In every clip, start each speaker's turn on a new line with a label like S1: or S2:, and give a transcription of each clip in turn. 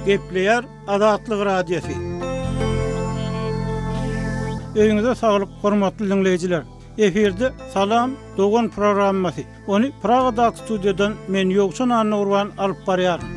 S1: Gepleýär Azatlyk Radiosy. Öýüňize saglyk, hormatly diňleýjiler. Efirde Salam dogan programmasy. Ony Pragadaky studiýadan men Ýowçan Annagurban alyp barýaryn.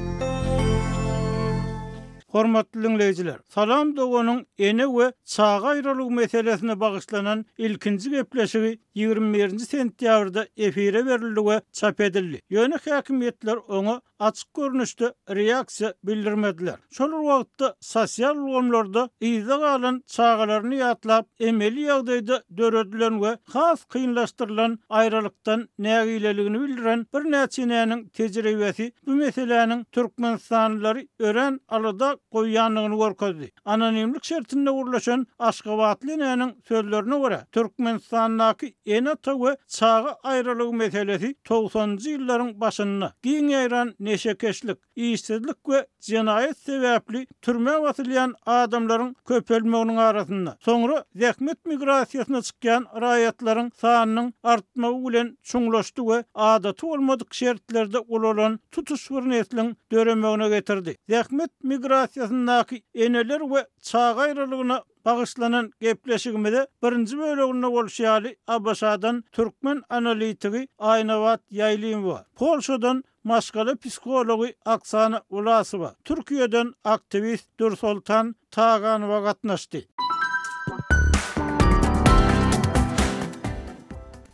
S1: Hormatly diňleýjiler, Salam doganyň ene we çaga aýralygy meselesine bagyşlanan ilkinji gepleşigi ýigrimi birinji sentýabrda efire berildi we çap edildi, ýöne häkimiýetler oňa açyk görnüşde reaksiýa bildirmediler. Şol bir wagtda, sosial ulgamlarda yzda galan çagalaryny ýatlap, emeli ýagdaýda döredilen we has kynlaşdyrylan aýralykdan nägileligini bildiren birnäçe enäniň tejribesi bu meseläniň türkmenistanlylary örän alada goýýandygyny görkezdi. Anonimlik şertinde gürleşen aşgabatly enäniň sözlerine görä, Türkmenistandaky ene-ata we çaga aýralygy meselesi togsanjy ýyllaryň başynda giň ýaýran neşekeşlik, işsizlik we jenaýat sebäpli türmä basylýan adamlaryň köpelmeginiň arasynda, soňra zähmet migrasiýasyna çykýan raýatlaryň sanynyň artmagy bilen çuňlaşdy we adaty bolmadyk şertlerde ulalan tutuş bir nesliň döremegine getirdi. Zähmet migrasiýasyndaky eneler we çaga aýralygyna bagyşlanan gepleşigimize birinji böleginde bolşy ýaly ABŞ-dan türkmen analitigi Aýnabat Ýaýlymowa, Polşadan maşgala psihology Oksana Wlasowa, Türkiýeden aktiwist Dürsoltan Taganowa gatnaşdy.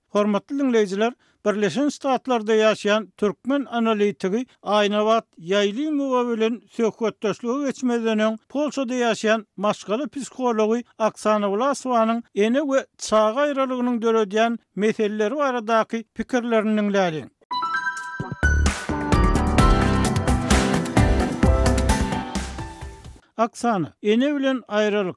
S1: Hormatly diňleýjiler, Birleşen Ştatlarda ýaşaýan türkmen analitigi Aýnabat Ýaýlymowa bilen söhbetdeşlige geçmezden öň, Polşada ýaşaýan maşgala psihology Oksana Wlasowanyň ene we çaga aýralygynyň döredýän meseleleri baradaky pikirlerini diňläliň. Oksana, ene bilen aýralyk,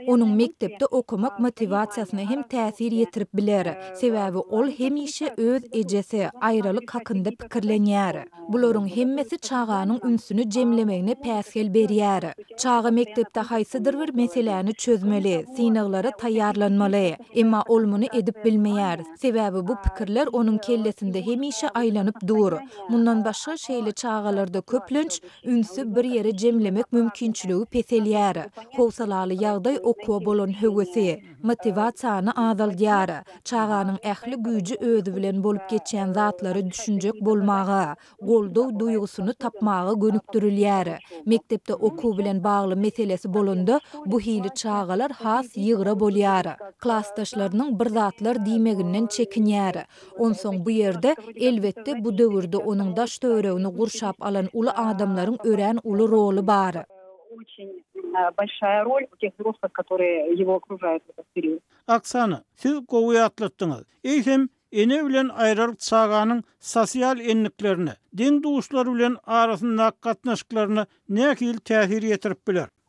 S2: Onuň mekdepde okamak motiwasiýasyna hem täsir ýetirip biler, sebäbi ol hemişe öz ejesi, aýralyk hakynda pikirlenýär. Bularyň hemmesi çaganyň ünsüni jemlemegine päsgel berýär. Çaga mekdepde haýsydyr bir meseläni çözmeli, synaglara taýýarlanmaly. Emma ol muny edip bilmeýär, sebäbi bu pikirler onuň kellesinde hemişe aýlanyp dur. Mundan başga, şeýle çagalarda köplenç Ünsi bir ýere jemlemek mümkinçiligi peselýär. Howsalaly ýagdaý okuwa bolan höwesi, motiwasiýany azaldýar. Çaganyň ähli güýji özi bilen bolup geçýän zatlara düşünjek bolmaga, goldaw duýgusyny tapmaga gönükdirilýär. Mekdepde okuw bilen bagly meselesi bolanda, bu hili çagalar has ýygra bolýar. Klasdaşlarynyň bir zatlar diýmeginden çekinýär. Onsoň bu ýerde, elbetde, bu döwürde onuň daş-töweregini gurşap alan uly adamlaryň örän uly roly bar.
S3: Oksana, siz
S1: gowy ýatlatdyňyz. Eýsem, ene bilen aýralyk çaganyň sosial endiklerine, deň-duşlar bilen arasyndaky gatnaşyklaryna nähili täsir ýetirip biler?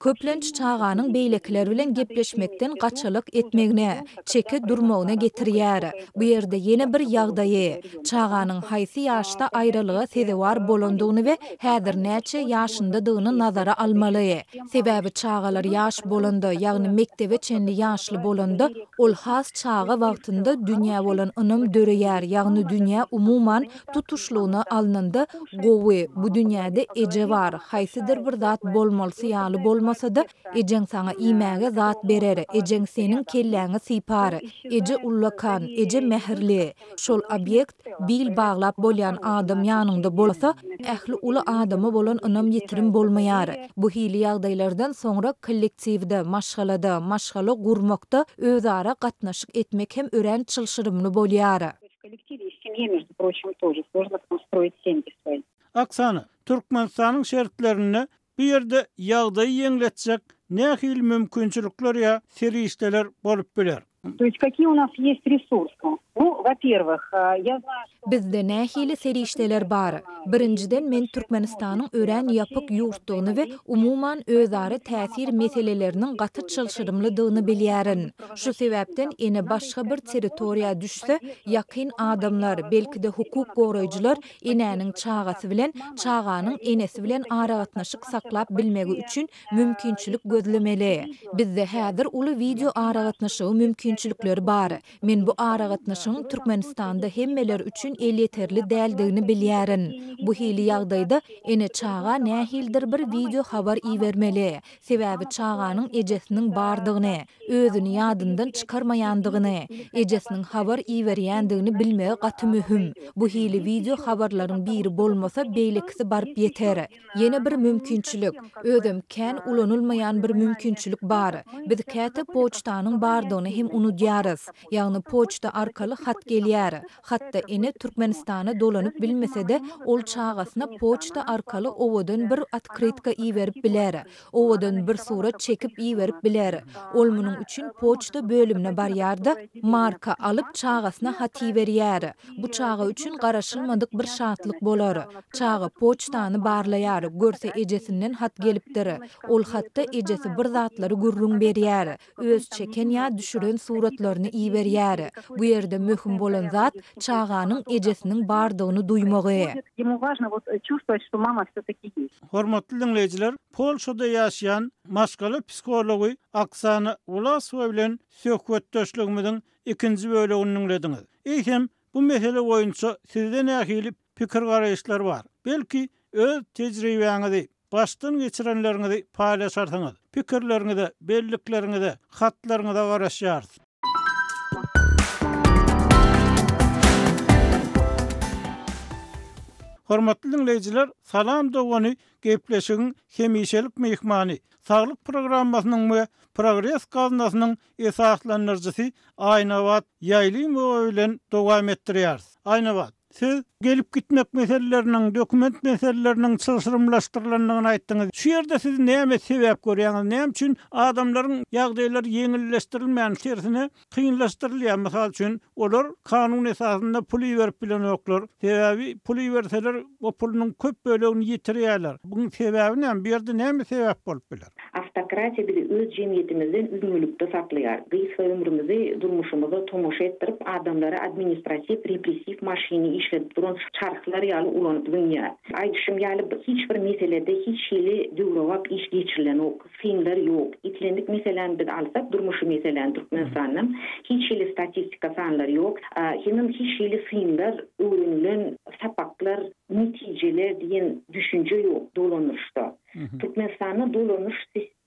S2: köplenç çaganyň beýlekiler bilen gepleşmekden gaçalyk etmegine, çekip durmagyna getirýär. Bu ýerde ýene bir ýagdaýy, çaganyň haýsy ýaşda aýralyga sezewar bolandygyny we häzir näçe ýaşyndadygyny nazara almaly. Sebäbi çagalar ýaş bolanda, ýagny mekdebe çenli ýaşly bolanda, ol has çaga wagtynda dünýä bolan ynam döreýär, ýagny dünýä umuman Tutuşlygyna alnanda, gowy, bu dünýäde eje bar, haýsydyr bir zat bolmalysy ýaly bolmasa-da, ejeň saňa iýmäge zat berer, ejeň seniň kelläňi sypar. Eje ullakan, eje mähirli. Şol obýekt, bil baglap bolýan adam ýanyňda bolsa, ähli uly adama bolan ynam ýitirim bolmaýar. Bu hili ýagdaýlardan soňra kollektiwde, maşgalada, maşgala gurmakda özara gatnaşyk etmek hem örän çylşyrymly bolýar.
S3: Oksana, Türkmenistanyň
S1: şertlerinde
S3: bu
S1: ýerde ýagdaýy ýeňletjek nähili mümkinçilikler ýa serişdeler bolup biler?
S3: Bizde nähili
S2: serişdeler bar? Birinjiden, men Türkmenistanyň örän ýapyk ýurtdugyny we umuman özara täsir meseleleriniň gaty çylşyrymlydygyny bilýärin. Şu sebäpden ene başga bir territoriýa düşse, ýakyn adamlar, belki-de hukuk goraýjylar enäniň çagasy bilen, çaganyň enesi bilen aragatnaşyk saklap bilmegi üçin mümkinçilik gözlemeli. Bizde häzir uly wideo aragatnaşygy mümkinçilikleri bar. Men bu aragatnaşygyň Türkmenistanda hemmeler üçin elýeterli däldigini bilýärin. Bu hili ýagdaýda ene çaga nähilidir bir wideo habar ibermeli, Sebäbi çaganyň ejesiniň bardygyny, özüni ýadyndan çykarmaýandygyny, ejesiniň habar iberýändigini bilmegi gaty möhüm. Bu hili wideo habarlaryň biri bolmasa, beýlekisi baryp ýeter. Ýene bir mümkinçilik, özem kän ulanylmaýan bir mümkinçilik bar. Biz käte poçtanyň bardygyny hem unudýarys. Ýagny poçta arkaly hat gelýär. Hatda ene Türkmenistana dolanyp bilmese-de, ol çagasyna poçta arkaly owadan bir otkrytka iberip biler, owadan bir surat çekip iberip biler. Ol munuň üçin poçta bölümine barýar-da, marka alyp, çagasyna hat iberýär. Bu çaga üçin garaşylmadyk bir şatlyk bolar. Çaga poçtany barlaýar, görse ejesinden hat gelipdir. Ol hatda ejesi bir zatlary gürrüň berýär. öz çeken ýa düşüren suratlaryny iberýär. Bu ýerde möhüm bolan zat çaganyň ejesiniň bardygyny duýmagy.
S3: Hormatly diňleýjiler,
S1: Polşada ýaşaýan maşgala psihology Oksana Wlasowa bilen söhbetdeşligimiziň ikinji bölegini diňlediňiz. Eýsem, bu mesele boýunça sizde nähili pikir-garaýyşlar bar. Belki, öz tejribäňizi, başdan geçirenleriňizi paýlaşarsyňyz. Pikirleriňize, bellikleriňize, hatlaryňyza garaşýarys. Hormatly diňleýjiler, Salam dogany gepleşigiň hemişelik myhmany, Saglyk programmasynyň we Progres gaznasynyň esaslandyryjysy Aýnabat Ýaýlymowa bilen dowam etdirýäris. Aýnabat. Siz gelip-gitmek meseleleriniň, dokument meseleleriniň çylşyrymlaşdyrylandygyny aýtdyňyz. Şu ýerde siz näme sebäp görýäňiz? Näme üçin adamlaryň ýagdaýlary ýeňilleşdirilmän, tersine, kynlaşdyrylýar? Mysal üçin, olar kanun esasynda pul iberip bilenoklar. Sebäbi pul iberseler, o pulunyň köp bölegini ýitirýärler. Buň sebäbi näme? Bu ýerde näme sebäp bolup biler? Awtokratiýa bizi
S4: öz jemgyýetimizden üzňelikde saklaýar. Gysga ömrümizi durmuşymyza tomaşa etdirip, adamlary administratiw-repressiw maşyny işledip duran çarhlar ýaly ulanyp zyňýar. Aýdyşym ýaly, hiç bir meselede hiç hili döwrebap iş geçirilenok, synlar ýok. Islendik meseläni biz alsak, durmuşy meseläni Türkmenistandan, hiç hili statistika sanlar ýok. Hemem hiç hili synlar, öwrenilen sapaklar, netijeler diýen düşünje ýok dolandyryşda. Türkmenistanda dolanyş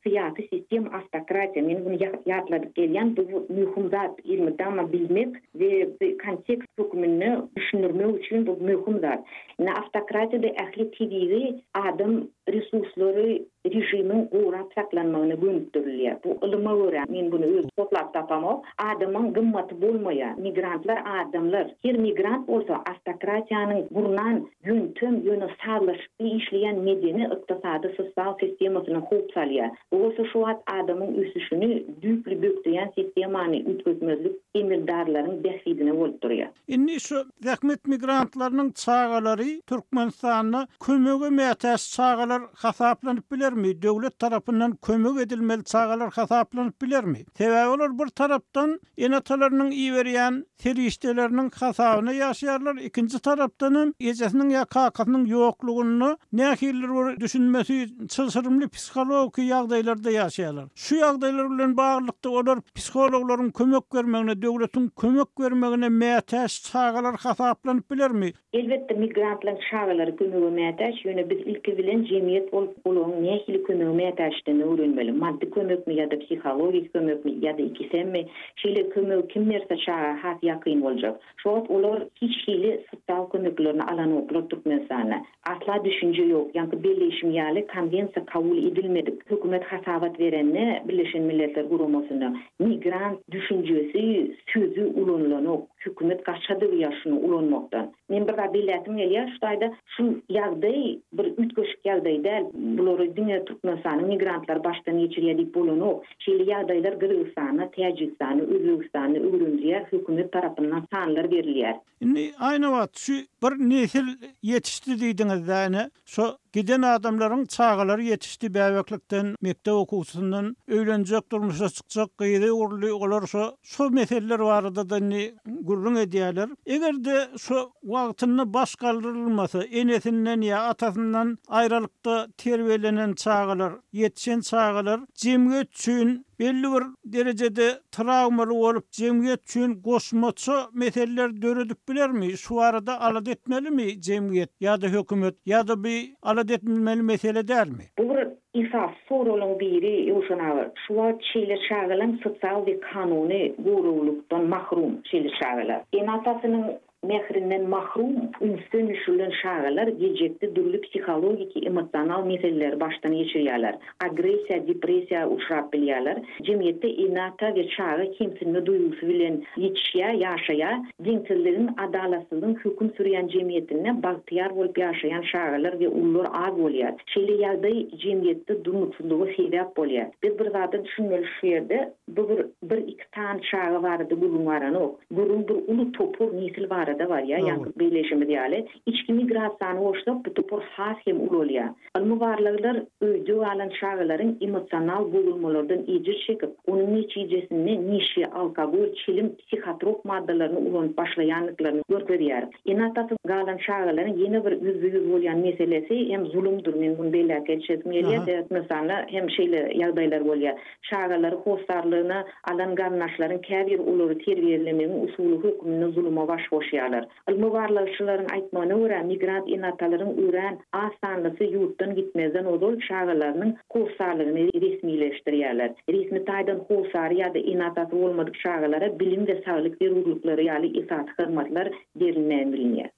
S4: syýasy sistema awtokratiýa men muny ýatladyp gelýän bu möhüm zat elmydama bilmek we bu kontekst höküminde düşündirmek üçin bu möhüm zat indi awtokratiýada ähli tebigy adam resurslary režimiň gorap saklanmagyna gönükdirilýär bu ylyma görä men buny özi toplap tapamok adamyň gymmaty bolmaýar migrantlar adamlar her migrant bolsa awtokratiýanyň gurnan ýöntem ýöne sazlaşykly işleýän medeni-ykdysady sosial sistemasyna howp salýar. Bu bolsa şu wagt adamyň ösüşini düýpli bökdeýän sistemany üýtgetmezlik emeldarlaryň bähbidine bolup durýar. Indi şu
S1: zähmet migrantlarynyň çagalary Türkmenistanda kömege mätäç çagalar hasaplanyp bilermi, döwlet tarapyndan kömek edilmeli çagalar hasaplanyp bilermi? Sebäbi olar bir tarapdan Ene-atalarynyň iberýän serişdeleriniň hasabyna ýaşaýarlar, ikinji tarapdan hem ejesiniň ýa kakasynyň ýoklugynda nähilidir bir düşünmesi çylşyrymly psihologiki ýagdaýlarda ýaşaýarlar. Şu ýagdaýlar bilen baglylykda olar psihologlaryň kömek bermegine, döwletiň kömek bermegine mätäç çagalar hasaplanyp bilermi? Elbetde, migrantlaryň
S4: çagalary kömege mätäç, ýöne biz ilki bilen jemgyýet bolup olaryň nähili kömege mätäçdigini öwrenmeli. Maddy kömekmi ýa-da psihologik kömekmi ýa-da ikisemmi? Şeýle kömegi kim berse çaga has ýakyn boljak. Şu wagt olar hiç hili sosial kömeklerini alanoklar Türkmenistanda. Asla düşünje ýok. Ýaňky belleýşim ýaly konwensiýa kabul edilmedik. Hökümet hasabat berende Birleşen Milletler Guramasyna Migrant düşünjesi, sözi ulanylanok. Hökümet gaçadyr ýa şuny ulanmakdan. Men bir zat belläsim gelýär şu taýda, şu ýagdaý bir üýtgeşik ýagdaý däl. Bulary diňe Türkmenistanyň migrantlary başdan geçirýär diýip bolanok. Şeýle ýagdaýlar Gyrgyzystanda, Täjigistanda, Özbegistanda öwrenilýär, hökümet tarapyndan sanlar berilýär. Indi aýnabat
S1: şu bir nesil ýetişdi diýdiňiz-dä ine, şo giden adamlaryň çagalary ýetişdi bäbeklikden, mekdep okuwçysyndan öýlenjek, durmuşa çykjak gyzy uruldy, olar şo, şo meseleler barada-da indi gürrüň edýärler. Eger-de şo wagtynda baş galdyrylmasa, enesinden ýa atasyndan aýralykda terbiýelenen çagalar, ýetişen çagalar jemgyýet üçin belli bir derejede Trawmaly bolup, jemgyýet üçin goşmaça meseleler döredip bilermi? Şu barada alada etmelimi jemgyýet ýa-da hökümet? Ýa-da bi alada etmilmeli mesele dälmi? Bu bir esasy
S4: soragyň biri, Ýowşan aga. Şu wagt şeýle çagalam sosial we kanuny goraglylikdan mahrum, şeýle çagalar. Ene-atasynyň Mährinden mahrum, ünsden düşürilen çagalar geljekde dürli psihologiki, emosional meseleleri başdan geçirýärler, agressiýa, depressiýa uçrap bilýärler, jemgyýetde ene-ata we çaga kemsinme duýgusy bilen ýetişýär, ýaşaýar. Deňsizligiň, adalatsyzlygyň höküm sürýän jemgyýetinde bagtyýar bolup ýaşaýan çagalar we ulular az bolýar. Şeýle ýagdaý jemgyýetde durnuksyzlyga sebäp bolýar. Biz bir zada düşünmeli şu ýerde, bu bir, bir-iki. Tan çaga barada gürrüň baranok. Gürrüň bir uly topar nesil barada barýar, ýaňky belleýşimiz ýaly. Içki migrasiýany goşsak, bu topar has hem ulalýar. Ylmy barlaglar öýde galan çagalaryň emosional bozulmalardan ejir çekip, onuň netijesinde neşe, alkogol, çilim, psihotrop maddalaryny ulanyp başlaýandyklaryny görkezýär. Ene-atasyz galan çagalaryň ýene bir ýüzbe-ýüz bolýan meselesi hem zulumdyr. Men muny belläp geçesim gelýär. Sebäbi Hindistanda hem şeýle ýagdaýlar bolýar. Çagalary hossarlygyna alan garyndaşlaryň käbiri olary terbiýelemegiň usuly hökmünde zuluma baş goşýarlar. Ylmy-barlagçylaryň aýtmagyna görä, migrant ene-atalaryň örän az sanlysy ýurtdan gitmezden ozal çagalarynyň hossarlygyny resmileşdirýärler. Resmi taýdan hossary ýa-da ene-atasy bolmadyk çagalara bilim we saglyk zerurlyklary ýaly esasy hyzmatlar berilmän bilinýär.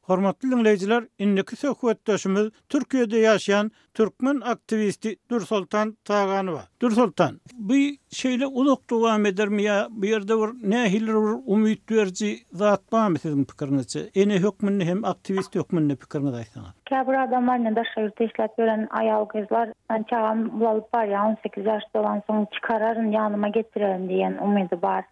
S1: Hormatly diňleýjiler, indiki söhbetdeşimiz Türkiýede ýaşaýan türkmen aktiwisti Dürsoltan Taganowa. Dürsoltan, bu şeýle uzak dowam edermi ýa bu ýerde bir nähilidir bir umyt beriji zat barmy siziň pikiriňizçe? Ene hökmünde hem aktiwist hökmünde pikiriňizi aýtsaňyz. Käbir adamlar indi
S5: daşary ýurtda işläp ýören aýal-gyzlar men çagam bulalyp barýar, on sekiz ýaş dolansoň çykararyn, ýanyma getirerin diýen umydy bar.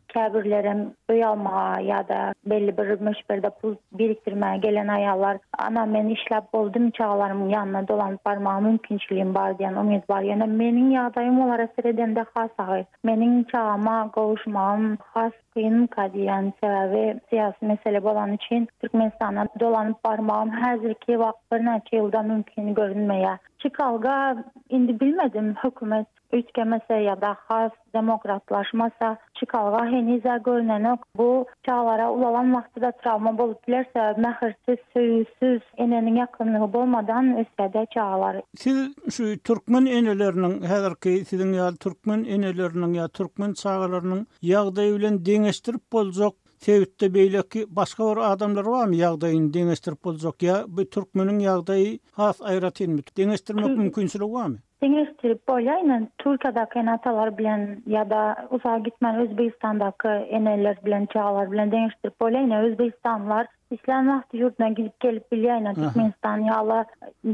S5: Käbirlerem öý almaga ýa-da belli bir möçberde pul birikdirmäge gelen aýallar, Ana, men işläp boldum, çagalarymyň ýanyna dolanyp barmaga mümkinçiligim bar diýen umyt bar. Ýöne meniň ýagdaýym olara seredende has agyr. Meniň çagama gowuşmagym has kynka diýýän. Sebäbi syýasy mesele bolany üçin Türkmenistana dolanyp barmagym häzirki wagt birnäçe ýylda mümkin görünmeýär. Çykalga indi bilmedim, hökümet Üýtgemese ýa-da has demokratlaşmasa, çykalga heniz-ä görnenok. Bu çaglara ulalan wagty-da trawma bolup biler, sebäbi mähirsiz, söýgüsiz, eneniň ýakynlygy bolmadan ösýär-dä çagalar. Siz şu
S1: türkmen eneleriniň, häzirki siziň ýaly türkmen eneleriniň ýa türkmen çagalarynyň ýagdaýy bilen deňeşdirip boljak sebitde beýleki başga bir adamlar barmy, ýagdaýyny deňeşdirip boljak ýa bu türkmeniň ýagdaýy has aýratynmy, deňeşdirmek mümkinçiligi barmy? Deňeşdirip bolýar
S5: ine Türkiýedäki ene atalar bilen ýada uzak gitmän Özbegistandaky eneler bilen çagalar bilen deňeşdirip bolýar ine Özbegistanlylar islän wagty ýurduna gidip gelip bilýär ine Türkmenistan ýala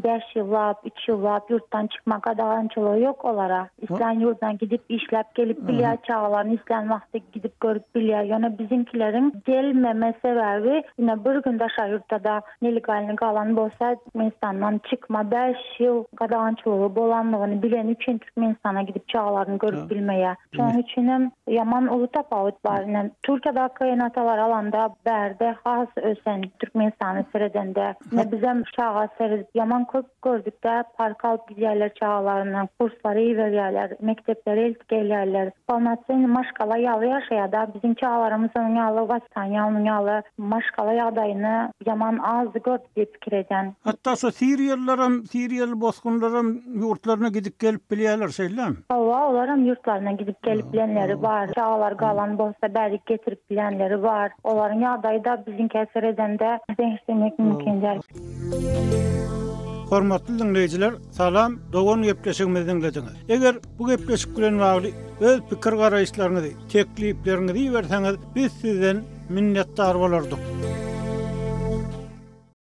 S5: bäş ýyllap üç ýyllap ýurtdan çykma gadagançylygy ýok olara islän ýurduna gidip işläp gelip bilýär çagalaryny islän wagty gidip görüp bilýär ýöne biziňkileriň gelmeme sebäbi ine bir gün daşary ýurtda da Nelegalny galan bolsa Türkmenistandan çykma bäş ýyl gadagançylygy bolanlygyny bileni üçin Türkmenistana gidip çagalaryny görüp bilmeýär. Şonuň üçin hem ýaman uly tapawut bar. Ine Türkiýadaky ene-atalary alanda bärde has ösen Türkmenistana seredende. Ine bizem çaga seredip ýaman köp Gördükde parka alyp gidýärler çagalaryny, kurslary iberýärler, mekdeplere eltip gelýärler. Polnocennyý maşgala ýaly ýaşaýar da, biziň çagalarymyz onuň ýaly wоспитание, onuň ýaly maşgala ýagdaýyny ýaman azdy gördük diýip pikir edýän. Hatda şu siriýalylaram,
S1: siriýaly bosgunlaram ýurtlaryna gidip gelip bilýärler, şeýlemi? Hawa, olaram ýurtlaryna
S5: gidip gelip bilenleri bar. Çagalar galan bolsa bärik getirip bilýänleri bar. Olaryň ýagdaýy-da biziňkä seredende deňeşdirmek mümkin däl. Hormatly
S1: diňleýjiler, salam, dogan gepleşigimizi diňlediňiz. Eger bu gepleşik bilen bagly öz pikir garaýyşlaryňyzy, teklipleriňizi iberseňiz, biz sizden minnetdar bolardyk.